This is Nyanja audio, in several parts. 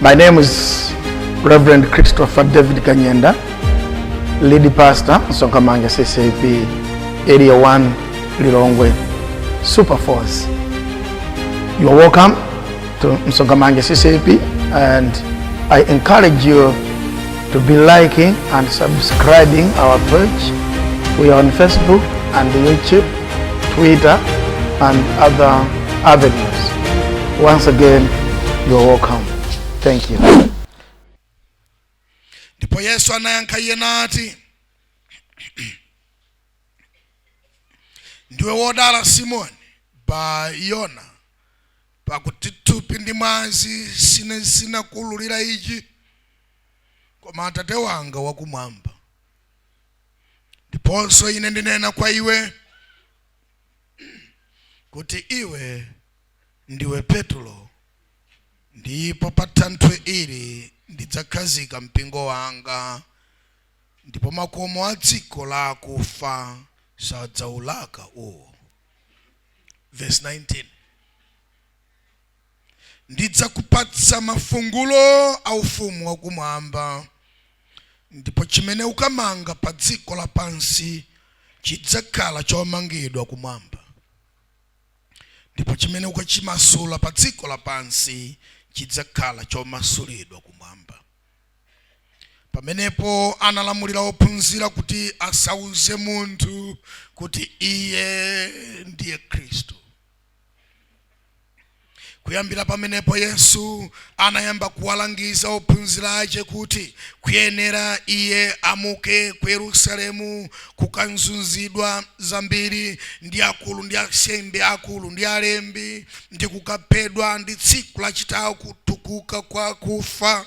My name is Reverend Christopher David Kanyenda, lead pastor, Sokamanga CCP, Area 1, Lilongwe, Superforce. You are welcome to Msogamanga CCP and I encourage you to be liking and subscribing our page. We are on Facebook and YouTube, Twitter, and other avenues. Once again, you are welcome. Thank you. ndipo yesu anayankha iye nati ndiwe wodala simoni ba yona pakuti thupi ndi mwazi sizinakuululira ichi Koma Atate wanga wa kumwamba, ndiponso ine ndinena kwa iwe, kuti iwe ndiwe Petulo, ndipo pa thanthwe ili ndidzakhazika mpingo wanga, ndipo makomo a dziko la akufa sadzaulaka uwo. Verse 19. Ndidzakupatsa mafungulo a ufumu wakumwamba, ndipo chimene ukamanga padziko lapansi chidzakhala chomangidwa kumwamba, ndipo chimene ukachimasula padziko lapansi chidzakhala chomasulidwa kumwamba. Pamenepo analamulira ophunzira kuti asauze munthu kuti iye ndiye Khristu. kuyambira pamenepo yesu anayamba kuwalangiza ophunzira ace kuti kuyenera iye amuke ku yerusalemu kukazunzidwa zambiri ndi akulu ndi ansembe akulu ndi alembi ndi kukaphedwa ndi tsiku lacitatu kutukuka kwa akufa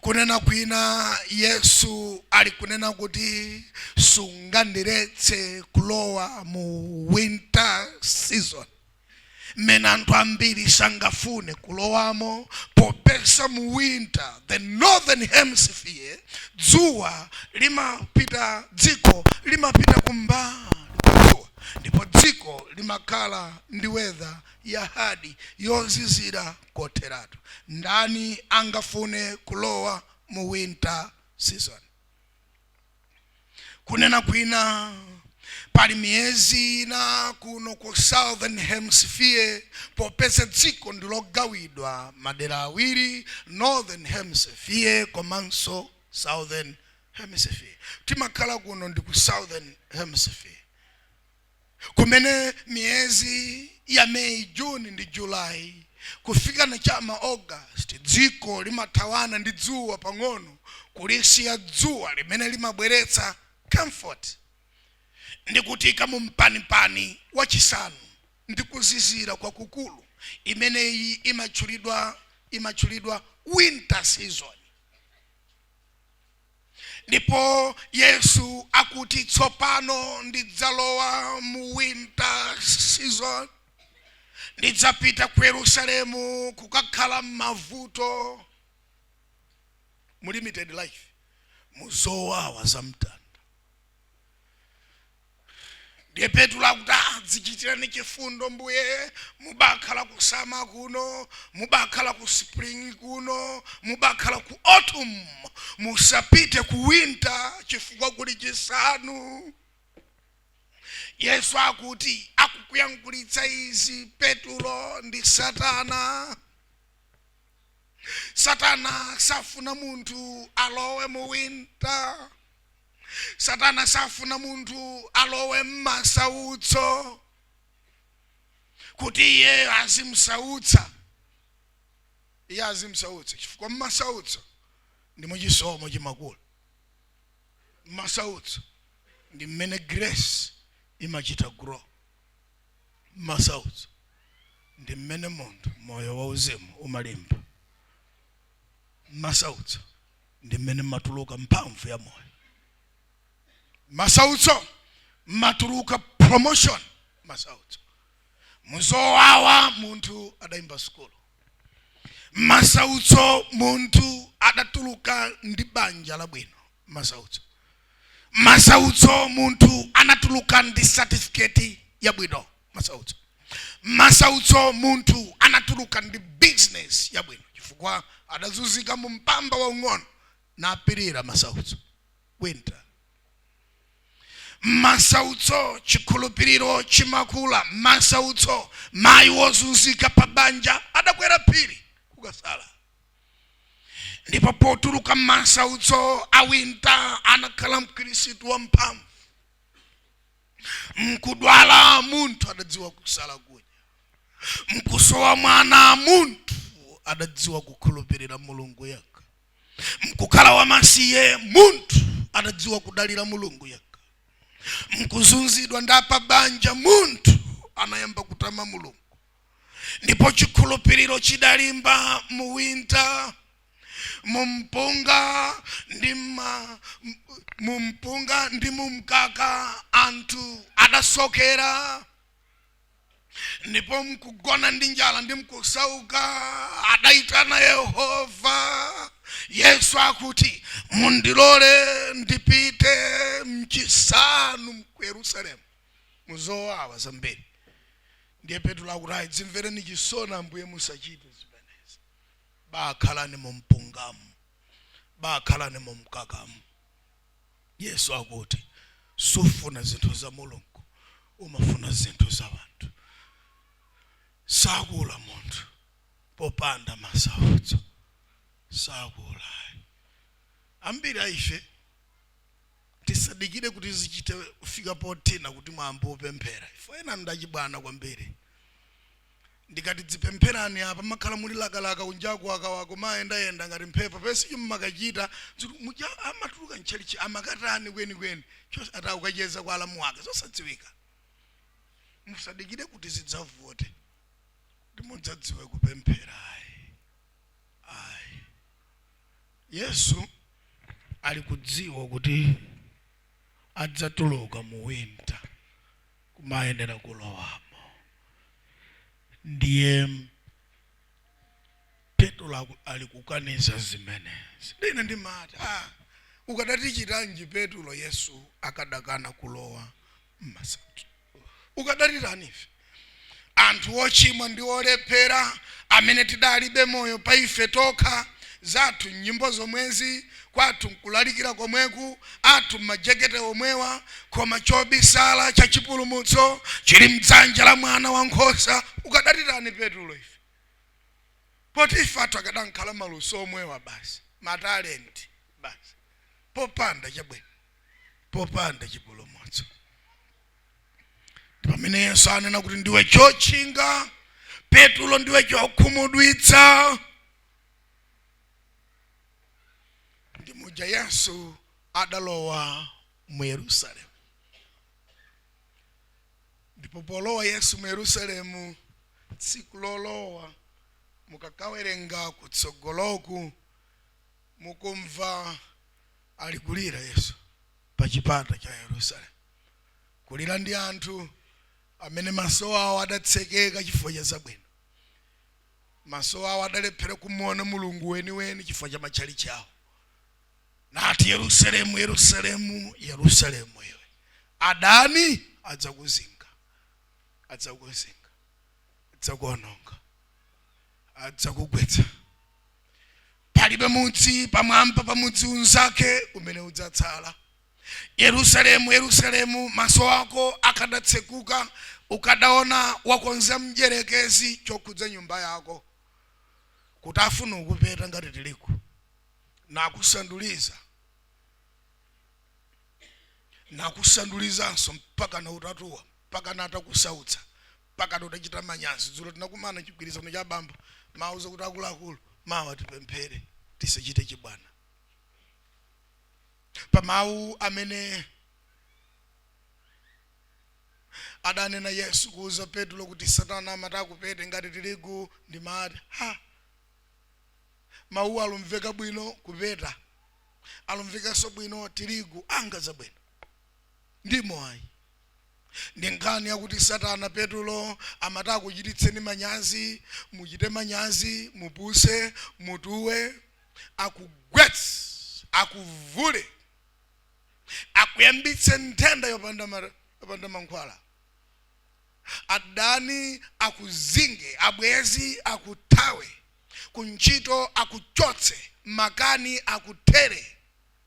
Kunena kwina, Yesu ali kunena kuti, Sungandiretse kulowa mu winter season, mmene anthu ambiri sangafune kulowamo, popeza mu winter, the northern hemisphere, dzuwa limapita, dziko limapita kumbali kwa dzuwa, ndipo dziko limakhala ndi weather ya hard, yozizira kotheratu. Ndani angafune kulowa mu winter season? Kunena kwina, pali miyezi ina kuno ku Southern Hemisphere, popeza dziko ndi logawidwa madera awiri, Northern Hemisphere komanso Southern Hemisphere. Timakhala kuno ndi ku Southern Hemisphere. kumene miyezi ya May, June ndi July kufika na cha m'ma August, dziko limathawana ndi dzuwa pang'ono, kulisiya dzuwa limene limabweretsa comfort ndi kutiika mu mpanipani wa chisanu ndi kuzizira kwakukulu. Imeneyi imachulidwa imachulidwa winter season. Ndipo Yesu akuti, Tsopano ndidzalowa mu winter season, ndidzapita ku Yerusalemu kukakhala mmavuto, mu limited life, mu zowawa za mtanda. ndiye petulo akuti dzichitireni chifundo mbuye mubakhala ku summer kuno mubakhala ku spring kuno mubakhala ku autumn musapite ku winter chifukwa kuli chisanu yesu akuti akukuyankhulitsa izi petulo ndi satana satana safuna munthu alowe mu winter satana safuna munthu alowe m'masautso kuti iye azimsautsa iye azimsautsa chifukwa m'masautso ndimo chisomo chimakula m'masautso ndi mmene grace imachita grow m'masautso ndi mmene munthu moyo wauzimu umalimba m'masautso ndi mmene mmatuluka mphamvu ya moyo. Mmasautso mmatuluka promotion. Mmasautso. Muzowawa munthu adayimba sukulu. Mmasautso munthu adatuluka ndi banja labwino. Mmasautso. Mmasautso munthu anatuluka ndi certificate yabwino. mmasautso mmasautso munthu anatuluka ndi bizinesi yabwino chifukwa adazunzika mu mpamba waung'ono napirira masautso winter mmasautso chikhulupiriro chimakula mmasautso mayi wozunzika pa banja adakwera phiri kukasala ndipo potuluka mmasautso a winter anakhala mkhristu wamphamvu mkudwala munthu adadziwa kusala kudya mkusowa mwana munthu adadziwa kukhulupirira mulungu yekha mkukhala wamasiye munthu adadziwa kudalira mulungu yekha mkuzunzidwa ndi a pabanja munthu anayamba kutama mulungu ndipo chikhulupiriro chidalimba mu winter mumpunga ndi ma mumpunga ndi mumkaka anthu adasokera ndipo mkugona ndi njala ndi mkusauka adaitana yehova yesu akuti mundilole ndipite mchisanu ku yerusalemu muzowawa zambiri ndiye petulo akuti ayi dzimvereni chisoni ambuye musachite Bakhalani mu mpungamu. Bakhalani mu mkakamu. Yesu akuti, Sufuna zinthu za Mulungu, umafuna zinthu za wanthu. Sakula munthu popanda masautso. Sakula ayi. Ambiri a ife. Tisadikire kuti zichite kufika pothina kuti mwambo opemphera ife ena ndi achibwana kwambiri. Ndikati dzipempherani apa mmakhala muli lakalaka kunjaku wakawa kumayenda yenda ngati mphepo palibe chimmakachita nzoti muja amatuluka mtchalitchi amakatani kweni kweni coz atha kukacheza kwa alamuwake zosadziwika. Musadikire kuti zidzavute kuti mudzadziwe kupemphera ayi ayi. Yesu ali kudziwa kuti adzatuluka mu winter koma ayenera kulowamo. Ndiye Petulo ali kukaniza zimenezi. Ndiye ine ndimati, ah, ukadati chitanji Petulo Yesu akadakana kulowa m'masautso. ukadati tani ife anthu ochimwa ndi olephera amene tidalibe moyo pa ife tokha zathu nyimbo zomwezi kwathu nkulalikira komweku athu mmajekete omwewa koma chobisala cha chipulumutso chili mdzanja la mwana wa nkhosa ukadati tani petulo ife poti ife athu akadangokhala maluso omwewa basi matalenti basi popanda chabwino popanda chipulumutso ndi pamene yesu anena kuti ndiwe chotchinga petulo ndiwe chokhumudwitsa ndi muja yesu adalowa mu yerusalemu ndipo polowa yesu mu yerusalemu tsiku lolowa mukakawerenga kutsogoloku mukumva ali kulira yesu pa chipata cha yerusalemu kulira ndi anthu amene maso awo adatsekeka chifukwa cha zabwino maso awo adalephera kumuona mulungu weniweni chifukwa cha matchalitchi awo nati yerusalemu yerusalemu yerusalemu iwe adani adzakuzinga adzakuzinga adzakuononga adzakugwetsa palibe mudzi pamwamba pa mudzi unzake umene udzatsala yerusalemu yerusalemu maso ako akadatsekuka ukadaona wakonza mdyerekezi chokhudza nyumba yako kuti afuna ukupeta ngati tirigu nakusanduliza nakusandulizanso mpakana utatuwa mpakana atakusautsa mpakana utachita manyazi dzulo tinakumana chigwirizano cha bambo nkuwauza kuti akuluakulu mawa tipemphere tisachite chibwana pa mawu amene adanena yesu kuuza petulo kuti satana amati akupete ngati tirigu ndimati ha mawuwa alikumveka bwino kupeta alikumvekanso bwino tirigu anga zabwino ndimo ayi. Ndi nkhani yakuti satana, Petulo, amati akuchititseni manyazi, muchite manyazi, mupuse, mutuwe, akugwetse, akuvule, akuyambitse nthenda yopanda yopanda mankhwala, adani akuzinge, abwenzi akuthawe, kuntchito akuchotse, makani akuthere.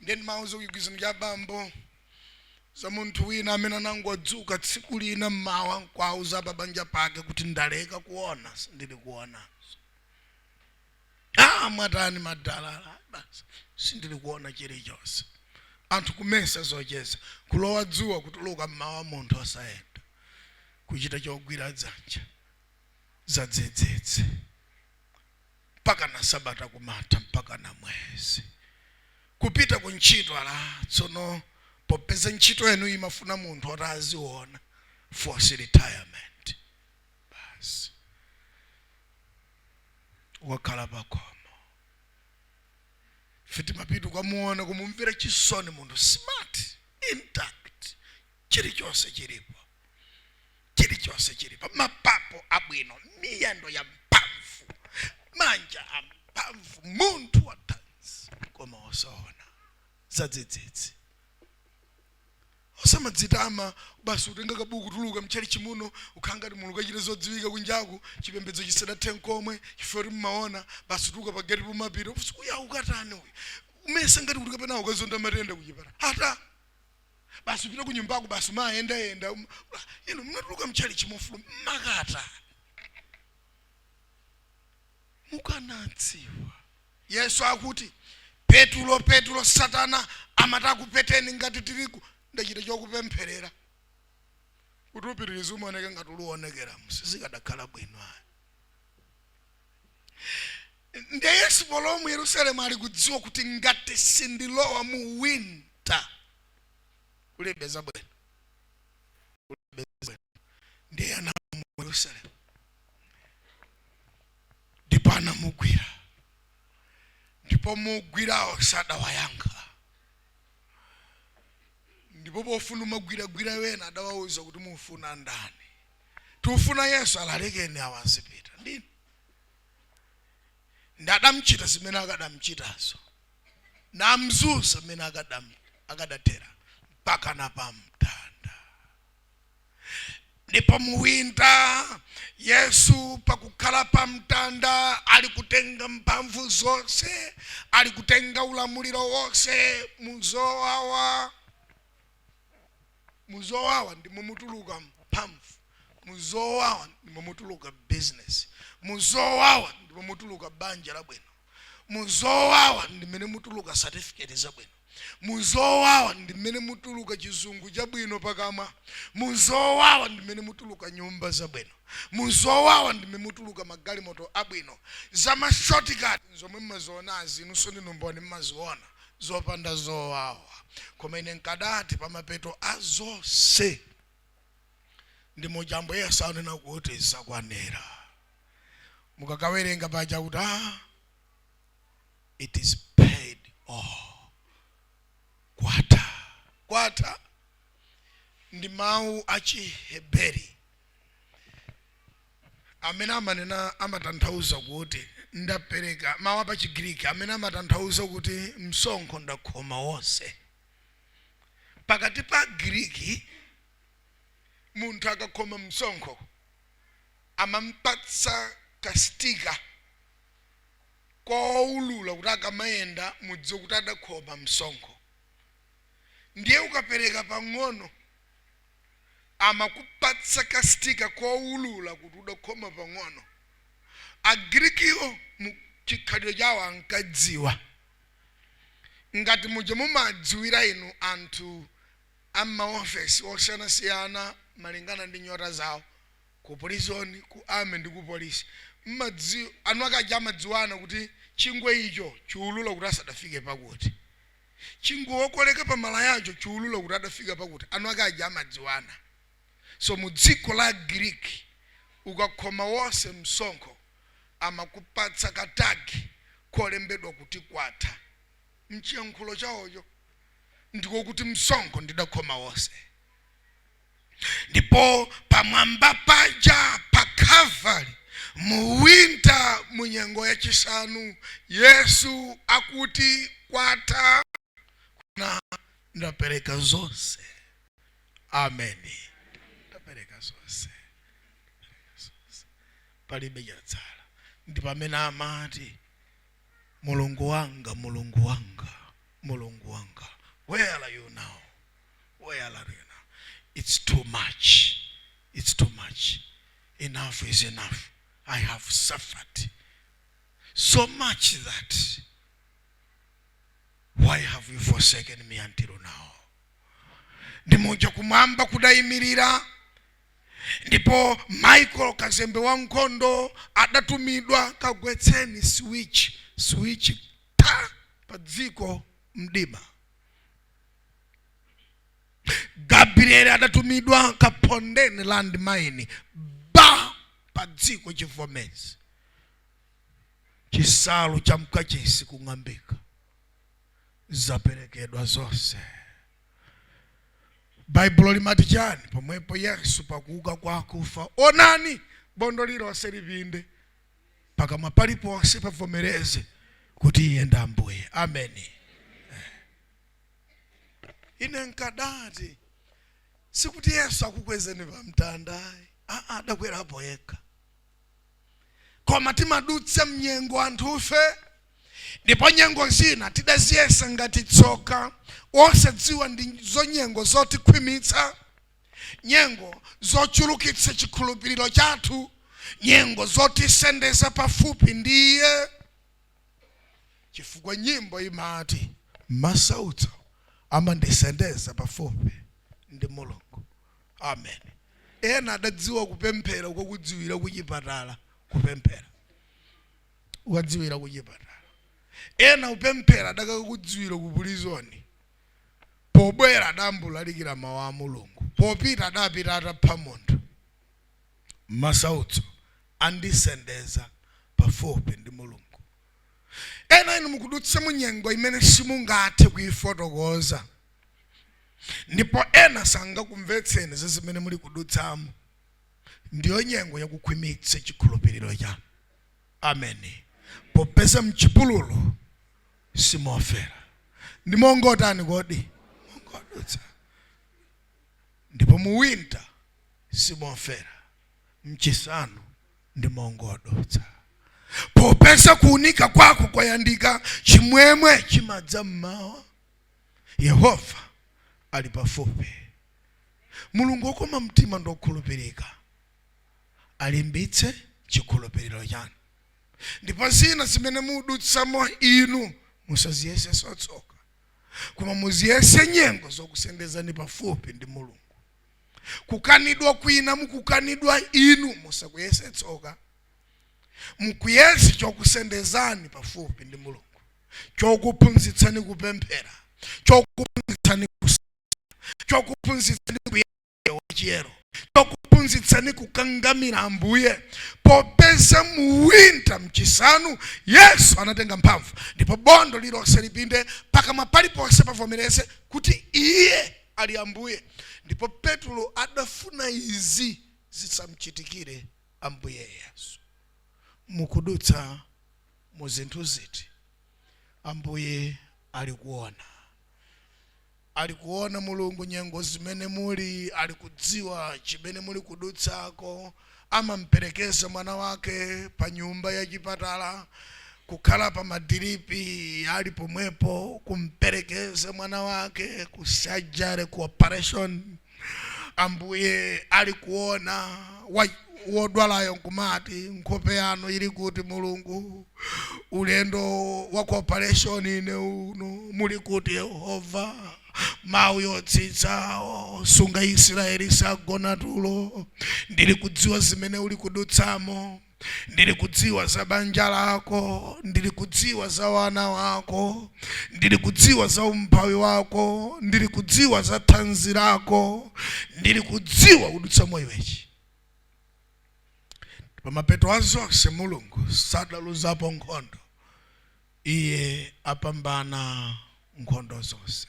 ndiye ndimauza chigwirizano cha bambo za munthu wina amene anangodzuka tsiku lina mmawa nkuwauza apabanja pake kuti ndaleka kuona sindili kuona ah mwatani madala basi sindili kuona chilichonse anthu kumayesa zocheza kulowa dzuwa kutuluka mmawa munthu osayenda kuchita chogwira dzanja zadzidzidzi mpakana sabata kumatha, mpakana mwezi. Kupita ku ntchito, ala, tsono popeza ntchito yanu imafuna munthu woti aziona force retirement, basi wakhala pakhomo. Ife timapita kukamuona, kumumvera chisoni munthu smart, intact, chilichonse chilipo chilichonse chilipo mapapo abwino miyendo yamphamvu manja amphamvu munthu wathanzi koma osaona zadzidzidzi osamadzitama basi utenga kabuku kutuluka mchalichi muno ukhala ngati mulungu achite zodziwika kunjaku chipembedzo chisadathe nkomwe chifukwa kuti mumaona basi tuluka pa geti pomapita uko ukatani uyu umayesa ngati kuti kapena ukazonda matenda kuchipatala ata basi upita kunyumba kwako basi umayendayenda um, inu munatuluka mtchalichi mofulumira mukadati mukanadziwa yesu akuti petulo petulo satana amati akupeteni ngati tirigu ndachita chokupempherera kuti upitirize umaoneke ngati uli kuonekera sizikadakhala bwino ayi nde yesu polowa mu yerusalemu ali kudziwa kuti ngati sindilowa mu winter kulibe zabwino kulibe zabwino ndiye analowa mu yerusalemu ndipo anamugwira ndipo omugwirawo sadawayankha ndipo pofuna umagwiragwira wena adawauza kuti mufuna ndani tiufuna yesu alekeni awa azipita ndine ndi adamchita zimene akadamchitazo namzunza mmene akadathera mpaka na pamtanda ndipo mu winter yesu pakukhala pamtanda ali kutenga mphamvu zonse ali kutenga ulamuliro wonse muzowawa Mu zowawa ndimo mutuluka mphamvu. Mu zowawa ndimo mutuluka business. Mu zowawa ndimo mutuluka banja labwino. Mu zowawa ndi mmene mutuluka certificate zabwino. Mu zowawa ndi mmene mutuluka chizungu chabwino pakamwa. Mu zowawa ndi mmene mutuluka nyumba zabwino. Mu zowawa ndi mmene mutuluka magalimoto abwino. Za ma shortcut nzomwe mmazionazi, inunso ndinu mboni mmaziona. zopanda zowawa. Koma ine nkadati pamapeto a zonse ndi muja Ambuye Yesu anena kuti zakwanira. Mukakawerenga paja kuti ah, it is paid all. Kwatha. Kwatha ndi mawu a Chiheberi amene amanena amatanthauza kuti ndapereka, mawu a pa Chigiriki amene amatanthauza kuti msonkho ndakhoma wonse. Pakati pa Agiriki, munthu akakhoma msonkho amam'patsa ka sitika koulula kuti akamayenda mudziwe kuti adakhoma msonkho. Ndiye ukapereka pang'ono amakupatsa ka sticker kowulula kuti udakhoma pang'ono. Agirikiwo mu chikhaliro chawo ankadziwa, ngati muja mumadziwira inu anthu a m'maofesi osiyanasiyana malingana ndi nyota zawo, ku pulizoni, ku ami ndi ku polisi. Mmadziwa, eni ake aja amadziwana kuti chingwe icho chiwulula kuti sadafike pakuti. chingwe chokoleka pa malayacho chiulula kuti adafika pakuti. Eni ake aja amadziwana. So mu dziko la agiriki ukakhoma wonse msonkho amakupatsa ka tag kolembedwa kuti kwatha. Mchiyankhulo chawocho ndiko kuti msonkho ndidakhoma wonse. Ndipo pamwamba paja pa Kalvari, mu winter, mu nyengo ya chisanu, Yesu akuti, Kwatha. Kwana. Ndapereka zonse. Ameni. Ndapereka zonse. Palibe chatsala. Ndi pamene amati, Mulungu wanga, Mulungu wanga, Mulungu wanga, where are you now? where are you now. Its too much, its too much, enough is enough, I have suffered so much that why have you forsaken me until now? Ndi muja kumwamba kudayimirira ndipo Michael kazembe wa nkhondo adatumidwa kagwetseni switch switch ta pa dziko mdima. gabrieli adatumidwa kapondeni land mine ba pa dziko chivomezi chisalu cha mkachisi kung'ambika zaperekedwa zonse baibulo limati chani pomwepo yesu pakuuka kwa akufa onani bondo lilonse lipinde pakamwa paliponse pavomereze kuti iye ndi ambuye ameni ine nkadati sikuti yesu akukwezeni pamtandayi aa adakwerapo yekha koma timadutsa mnyengo anthufe ndipo nyengo zina tidaziyesa ngati tsoka osadziwa ndizo nyengo zotikhwimitsa nyengo zochulukitsa chikhulupiriro chathu, nyengo zotisendeza pafupi ndi Iye, chifukwa nyimbo imati, Masautso amandisendeza pafupi ndi Mulungu. Amen. Ena adadziwa kupemphera kukakudziwira kuchipatala kupemphera. Ukadziwira kuchipatala. Ena kupemphera adakakudziwira ku pulizoni. Pobwera adam'bulalikira Mau a Mulungu. Popita adapita atapha munthu. Masautso andisendeza pafupi ndi Mulungu. Ena inu mukudutsa mu nyengo imene simungathe kuifotokoza. Ndipo ena sangakumvetseni zimene muli kudutsamo. Ndiyo nyengo yakukhwimitsa chikhulupiriro chanu. Ameni. Popeza mchipululu simofera. Ndi mongotani kodi? Mongodutsa. Ndipo mu winter simofera. Mchisanu ndi mongodutsa. Popeza kuunika kwako kwayandika, chimwemwe chimadza mmawa. Yehova ali pafupi. Mulungu okoma mtima ndi okhulupirika. alimbitse chikhulupiriro chanu. Ndipo zina zimene mudutsamo inu, musaziyesenso tsoka, koma muziyese nyengo zokusendezani pafupi ndi Mulungu. Kukanidwa kwina mukukanidwa inu, musakuyese tsoka. Mukuyese chokusendezani pafupi ndi Mulungu, chokuphunzitsani kupemphera, chokuphunzitsani kusala, chokuphunzitsani kuye wachiyero chokuphunzitsani kukangamira ambuye popeza mu winter mchisanu yesu anatenga mphamvu ndipo bondo lilonse lipinde pakamwa paliponse pavomereze kuti iye ali ambuye ndipo petulo adafuna izi zisamchitikire ambuye yesu mukudutsa mu zinthu ziti ambuye ali kuona Ali kuona mulungu nyengo zimene muli ali kudziwa chimene muli kudutsako amamperekeza mwana wake pa nyumba ya chipatala kukhala pa madiripi ali pomwepo kumperekeza mwana wake ku surgery ku operation ambuye ali kuona wodwalayo nkumati nkhope yanu ili kuti mulungu ulendo wa ku operation ine uno muli kuti yehova mawu otsitsa wosunga israeli sagona tulo ndili kudziwa zimene uli kudutsamo Ndiri kudziwa za banja lako, ndiri kudziwa za wana wako, ndiri kudziwa za umphawi wako, ndiri kudziwa za thanzi lako, ndiri kudziwa udutsamo iwechi. Pamapeto a zonse Mulungu sadaluzapo nkhondo, iye apambana nkhondo zonse.